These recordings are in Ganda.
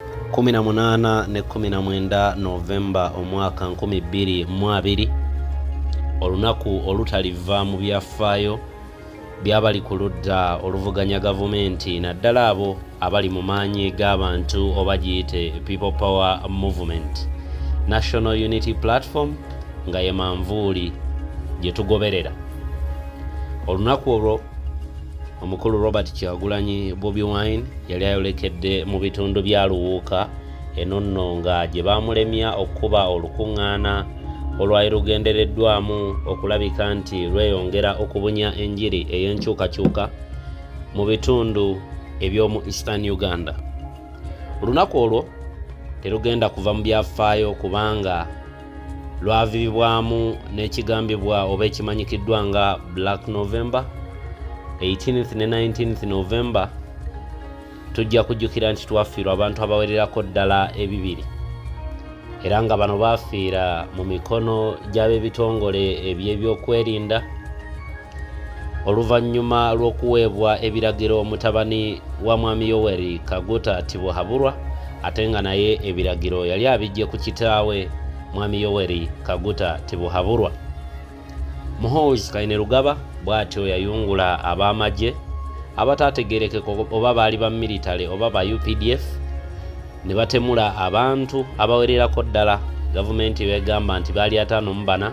18 ne 19 novemba omwaka 2020 olunaku olutaliva mu byafaayo byabali ku ludda oluvuganya gavumenti naddala abo abali mu maanyi g'abantu oba giyite people power movement national unity platform nga ye manvuuli gye tugoberera olunaku olwo omukulu robert kyagulanyi bobi wine yali ayolekedde mu bitundu bya luwuuka eno nno nga gye baamulemya okukuba olukuŋŋaana olwali lugendereddwamu okulabika nti lweyongera okubunya enjiri ey'enkyukakyuka mu bitundu eby'omu eastern uganda olunaku olwo terugenda kuva mu byafaayo kubanga lwaviribwamu n'ekigambibwa oba ekimanyikiddwa nga black november 18th ne 19th november tujja kujjukira nti twafiirwa abantu abawererako ddala ebibiri era nga bano baafiira mu mikono gy'ab'ebitongole eby'ebyokwerinda oluvannyuma lw'okuweebwa ebiragiro mutabani wa mwami yoweri kaguta tibuhaburwa ate nga naye ebiragiro yali abijje ku kitaawe mwami yoweri kaguta tibuhaburwa muhooz kainerugaba bw'atyo yayungula ab'amagye abataategerekeka oba baali ba military oba ba updf ne batemula abantu abawererako ddala gavumenti begamba nti baali ataano mu bana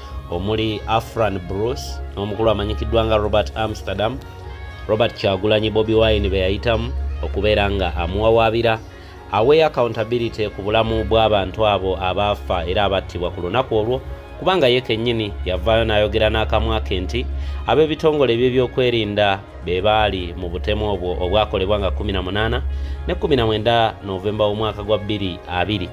omuli afran bruce n'omukulu amanyikiddwa nga robert amsterdam robert kyagulanyi bobi wine be yayitamu okubeera nga amuwawaabira aweeyo accountability ku bulamu bw'abantu abo abaafa era abattibwa ku lunaku olwo kubanga ye kennyini yavaayo n'ayogera n'akamwa ke nti ab'ebitongole eby'ebyokwerinda be baali mu butemu obwo obwakolebwa nga 18 ne 19 novemba w'omwaka gwa 22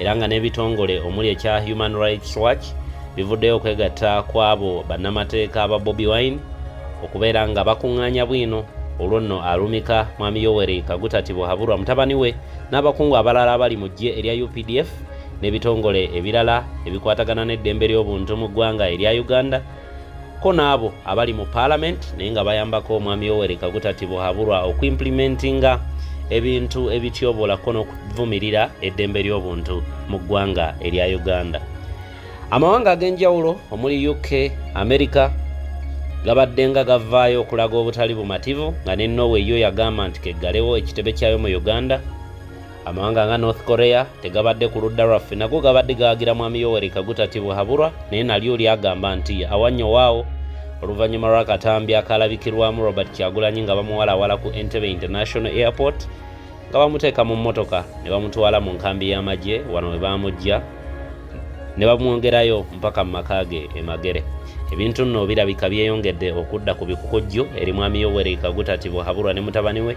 era nga n'ebitongole omuli ekya human rights watch bivuddeyo okwegatta kw'abo bannamateeka ba bobi wine okubeera nga bakuŋŋaanya bwino olwo nno alumika mwami yoweri kagutati buhaburwa mutabani we n'abakungu abalala abali mu ggye erya updf n'ebitongole ebirala ebikwatagana n'eddembe ly'obuntu mu ggwanga erya uganda ko n'abo abali mu paalamenti naye nga bayambako omwami yoweri kaguta tibuhaburwa okuimplimentinga ebintu ebityobolako n'okuvumirira eddembe ly'obuntu mu ggwanga erya uganda amawanga ag'enjawulo omuli uk america gabaddenga gavaayo okulaga obutali bumativu nga ne norway yo yagamba nti keggalewo ekitebe kyayo mu uganda Amawanga nga North Korea tegabadde ku ludda lwaffe nago gabadde gawagira Mwami Yoweri Kaguta Tibuhaburwa naye nalyo lyagamba nti awannyo waawo oluvannyuma lw'akatambi akaalabikirwamu Robert Kyagulanyi nga bamuwalawala ku Entebbe International Airport nga bamuteeka mu mmotoka ne bamutwala mu nkambi y'amagye wano we baamujja ne bamwongerayo mpaka mu maka ge e Magere. Ebintu nno birabika byeyongedde okudda ku bikukujju eri Mwami Yoweri Kaguta Tibuhaburwa ne mutabani we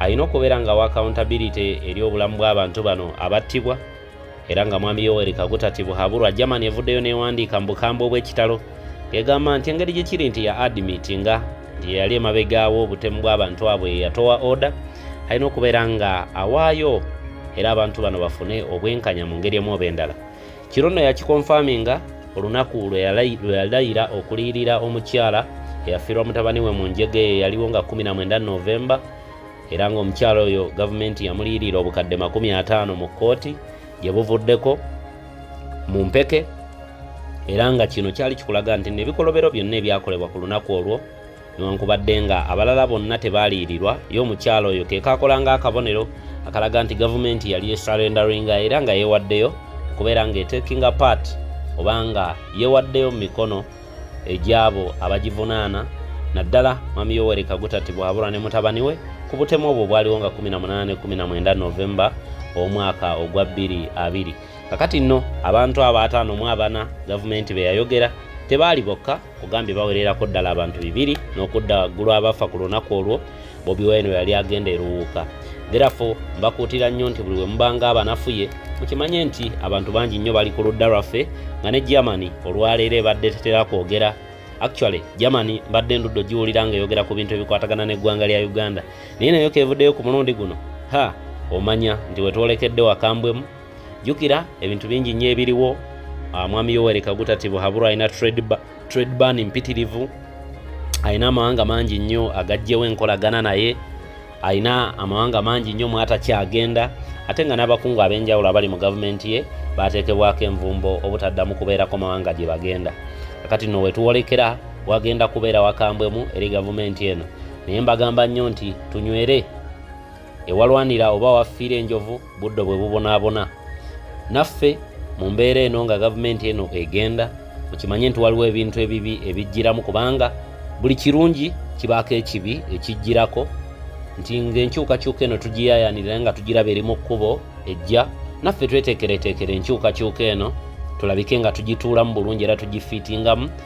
alina okubeera nga wa accountability eri obulamu bw'abantu bano abattibwa era nga mwami yoweri kaguta tibuhaburwa germany evuddeyo newandiika mu bukambwe obw'ekitalo egamba nti engeri gye kiri nti ya admit nga nti yeyali emabegaawo obutemu bw'abantu abwe yatowa oda alina okubeera nga awaayo era abantu bano bafune obwenkanya mu ngeri emu oba endala Kino nno yakikonfaminga olunaku lwe yalayira okuliyirira omukyala eyafiirwa mutabani we mu njega eyo yaliwo nga 19 novemba era ng'omukyala oyo gavumenti yamuliyirira obukadde 50 mu kkooti gye buvuddeko mu mpeke era nga kino kyali kikulaga nti nebikolobero byonna ebyakolebwa ku lunaku olwo newankubadde nga abalala bonna tebaaliyirirwa ye omukyalo oyo kekakola nga akabonero akalaga nti gavumenti yali esarendaringa era nga yewaddeyo okubeera nga etekinga part oba nga yewaddeyo mu mikono egyabo abagivunaana naddala mwami yoweri kagutati bwabura ne mutabani we ku butemu obwo bwaliwo nga 1819 novemba omwaka ogwa 22 kakati nno abantu abo ataano mu abana gavumenti beyayogera tebaali bokka ogambye bawererako ddala abantu bibiri n'okudda waggulu abafa ku lunaku olwo bobi wine yali agenda eruwuuka therefo mbakuutira nnyo nti buli we mubanga abanafuye mukimanye nti abantu bangi nnyo bali ku ludda lwaffe nga ne germany olwaleero ebadde tetera kwogera actually germany mbadde enduddo giwulira nga eyogera ku bintu ebikwatagana n'eggwanga lya uganda naye nayo kevuddeyo ku mulundi guno ha omanya nti wetwolekedde wakambwemu jukira ebintu bingi nnyo ebiriwo ah, mwami yoweri kaguta tibuhabura alina trade ban mpitirivu alina amawanga mangi nnyo agajjewo enkolagana naye alina amawanga mangi nnyo mwatakyagenda ate nga n'abakungu ab'enjawulo abali mu gavumenti ye bateekebwako envumbo obutaddamu kubeerako mawanga gye bagenda kakati no wetuwolekera wagenda kubeera wakambwemu eri gavumenti eno naye mbagamba nnyo nti tunywere ewalwanira oba wafiira enjovu buddo bwe bubonaabona naffe mu mbeera eno nga gavumenti eno egenda mukimanye nti waliwo ebintu ebibi ebijjiramu kubanga buli kirungi kibaako ekibi ekijjirako nti ngaenkyukakyuka eno tugiyayanira nga tugiraba eri mu kkubo ejja naffe tweteekereteekera enkyukakyuka eno tulabike nga tugituulamu bulungi era tugifiitingamu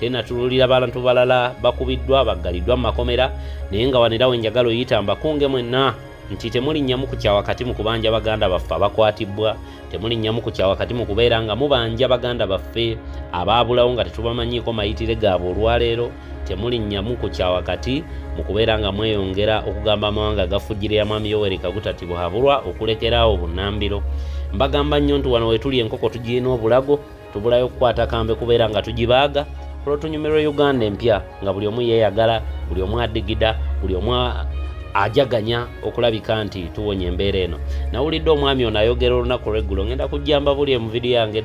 tenatululira bantu balala bakubiddwa baggaliddwa mu makomera naye nga wanera we njagala oyita mbakunge mwenna nti temulinnyamu ku kyawakati mu kubanja baganda baffe abakwatibbwa temulinnyamu ku kyawakati mu kubeera nga mubanja baganda baffe abaabulawo nga tetubamanyiiko mayitire gaabwe olwaleero temulinnyamu ku kyawakati mu kubeera nga mweyongera okugamba amawanga agafujjire ya mwami yoweri kagutati buhabulwa okulekera awo bunnambiro mbagamba nnyo nti wano wetuli enkoko tugirina obulago tubulayo okukwata kambe kubeera nga tugibaaga olwotunyumirwa uganda empya nga buli omu yeeyagala buli omu adigida buli omu ajaganya okulabika nti tuwonya embeera eno nawulidde omwami ono ayogera olunaku lweggulo ngenda kujjamba buli emuvidiyo yange